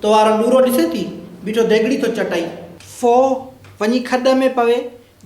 تو وارو ڏورو ڏسين ٿي، بيٺو ديڳڙي ٿو چٽئي. ڦو، وڃي کڏ ۾ پوي،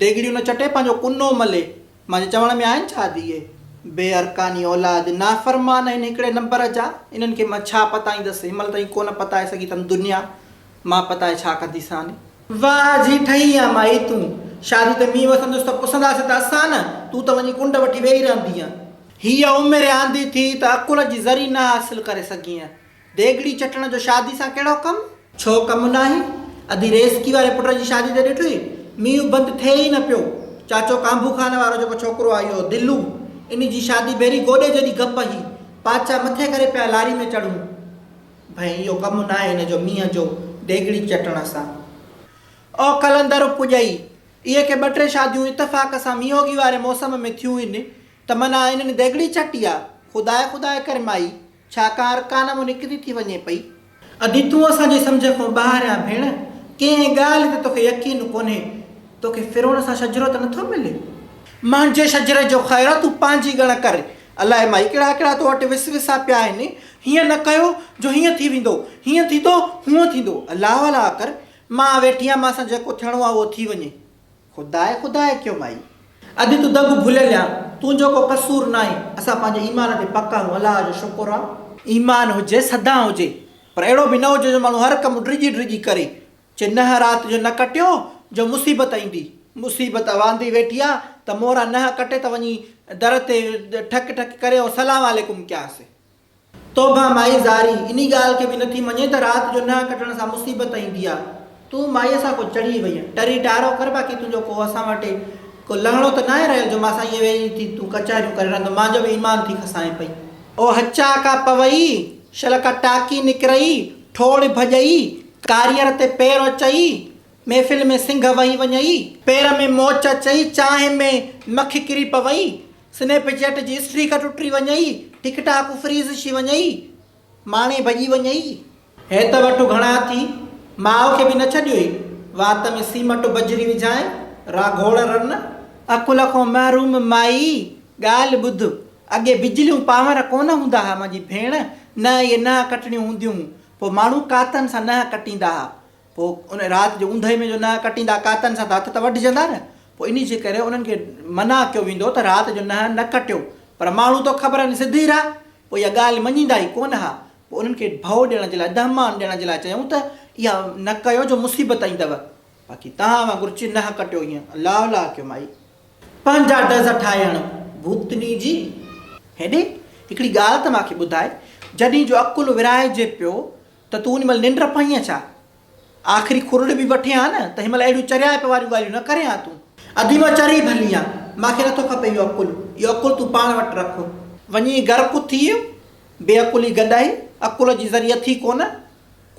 ديڳڙيون نه چٽي پنهنجو ڪنو ملي. مانجي چوڻ ۾ آهن ڇا ڌيئي؟ بي ارڪاني اولاد، نافرمان آهن هڪڙي نمبر جا، انهن کي مان ڇا پتائيندس، هن مهل تائين ڪونه پتائي سگهي اٿم دنيا، مان پتائي ڇا ڪنديسان؟ واهه جي ٺهي آ مائي تون، شادي تي مينهن وسندس ته پسنداسين ته اسان نه، تون ته وڃي ڪنڊ وٺي ويهي رهندينء. هيء عمر آندي ٿي ته عقل جي ذري نه حاصل ڪري سگهينء، ديڳڙي چٽڻ جو شادي سان ڪهڙو ڪم؟ ڇو ڪم ناهي؟ ادي ريسڪي واري پٽ جي شادي تي ڏٺئي؟ مينهن بند ٿئي ئي نه پيو. چاچو ڪانڀو خان وارو جيڪو ڇوڪرو آهي اهو دلو، ان جي شادي ڀيري گوڏي جيڏي گپ هي. پاچا مٿي ڪري پيا لاري ۾ چڙهون. ڀئي اهو ڪم ناهي هن جو مينهن جو ديڳڙي چٽڻ سان. او قلندر اپڄائي! اهي ڪي ٻه ٽي شاديون اتفاق سان مينهوڳي واري موسم ۾ ٿيون هن ته منان انهن ديڳڙي چٽي آ. خداء خداء ڪر مائي! ڇا ڪا ارڪان مان نڪري ٿي وڃي پئي؟ ادي تون اسان جي سمجهه کان ٻاهر آهين ڀيڻ، ڪنهن ڳالهه تي توکي يقين ڪونهي، توکي فرعون سان شجرو ته نٿو ملي؟ منهنجي شجري جو خير تون پنهنجي ڳڻ ڪر، الاهي مائي ڪهڙا ڪهڙا تو وٽ وسوسا پيا آهن، هيئن نه ڪيو جو هيئن ٿي ويندو، هيئن ٿيندو هونئن ٿيندو، الاهه الاهه ڪر، مان ويٺي آهيان مان سان جيڪو ٿيڻو آهي اهو ٿي وڃي. خداء خداء ڪيو مائي! ادي تون دنگ ڀليل آ، تنهنجو ڪو قصور ناهي، اسان پنهنجي ايمان تي پڪ آهيون، الله جو شڪر آ. ايمان هجي سدا هجي، پر اهڙو به نه هجي جو ماڻهو هر ڪم ڊڄي ڊڄي ڪري، چي ننهن رات جو نه ڪٽيو جو مصيبت ايندي، مصيبت اواندي ويٺي آ ته مورا ننهن ڪٽي ته وڃي در تي ٺڪ ٺڪ ڪري ۽ سلام عليڪم ڪياسين. توبهه مائي زاري انهي ڳالهه کي به نٿي مڃي ته رات جو ننهن ڪٽڻ سان مصيبت ايندي آ. تون مائيء سان ڪو چڙهي وئين. ٽري ٽارو ڪر باقي تنهنجو ڪو اسان وٽ اهي ڪو لهڻو ته ناهي رهيو جو مان سان ائين ويهي ٿي تون ڪچهريون ڪرين رهندو مانجو به ايمان ٿي کسانء پئي. او هچا ڪا پوئي، شل ڪا ٽاڪي نڪرئي، ٺوڙ ڀڄئي، ڪاريئر تي پير اچئي، محفل ۾ سنگهه وهي وڃئي، پير ۾ موچ اچئي، چانهه ۾ مک ڪري پوئي، سنيپ چيٽ جي اسٽريڪ ٽٽي وڃئي، ٽڪ ٽاڪ فريز ڇي وڃئي، ماڻي ڀڄي وڃئي. هي ته وٺ گهڻا ٿي، ماء کي به نه ڇڏيوئي، وات ۾ سيمٽ بجري وجهائين، را گهوڙ رن. عقل کان محروم مائي، ڳالهه ٻڌ، اڳي بجليون پانور ڪونه هوندا ها منهنجي ڀيڻ، نه اهي ننهن ڪٽڻيون هونديون هون، پوء ماڻهو ڪاتن سان ننهن ڪٽيندا ها، پوء ان رات جي اوندهه ۾ جو نهه ڪٽيندا ڪاتن سان ته هٿ ته وڍجندا نه، پوء انهي جي ڪري انهن کي منع ڪيو ويندو ته رات جو نهه نه ڪٽيو، پر ماڻهو تو خبر آهن سڌي رهه، پوء اها ڳالهه مڃيندا ئي ڪونه ها، پوء انهن کي ڀؤ ڏيڻ جي لاء، دهمان ڏيڻ جي لاء چيائون ته اها نه ڪيو جو مصيبت ايندؤ، باقي توهان وانگر چي نهه ڪٽيو هينئن الله الله ڪيو مائي. پنهنجا ڊز ٺاهي هڻ ڀوتني جي. هيڏي هڪڙي ڳالهه ته مان کي ٻڌاء، جڏهين جو عقل ورهائجي پيو ته تون ان مهل ننڊ پائين ها ڇا؟ آخري کورڙي به وٺين ها نه ته هن مهل اهڙيون چريائپ واريون ڳالهيون نه ڪرين ها تون. اديمه چري ڀلي ها، مان کي نٿو کپي اهو عقل، اهو عقل تون پاڻ وٽ رک. وڃي گهر ڪٿ ٿي ويو، بي عقلي گڏائي، عقل جي ذري اٿي ڪونه،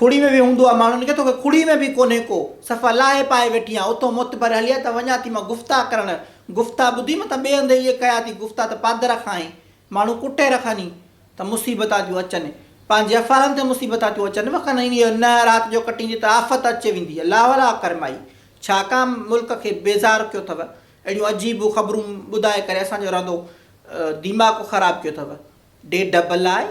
کڙي ۾ به هوندو ها ماڻهن کي، توکي کڙي ۾ به ڪونهي ڪو، صفا لاهي پائي ويٺي ها، اٿو معتبر هلي ها ته وڃان ٿي مان گفتا ڪرڻ، گفتا ٻڌي متان ٻئي هنڌ اهي ڪيا ٿي گفتا ته پادر کان آهين، ماڻهو ڪٽي رکاني ته مصيبتان تيون اچن پنهنجي افعالن تي مصيبتان تيون اچن وکن ۽ اهي نه رات جو ڪٽيندي ته آفت اچي ويندي الله ولا ڪرمائي ڇا ڪا ملڪ کي بيزار ڪيو اٿو اهڙيون عجيب خبرون ٻڌائي ڪري اسان جو رندو ديماڪ خراب ڪيو اٿو ڊيڍ بلائي.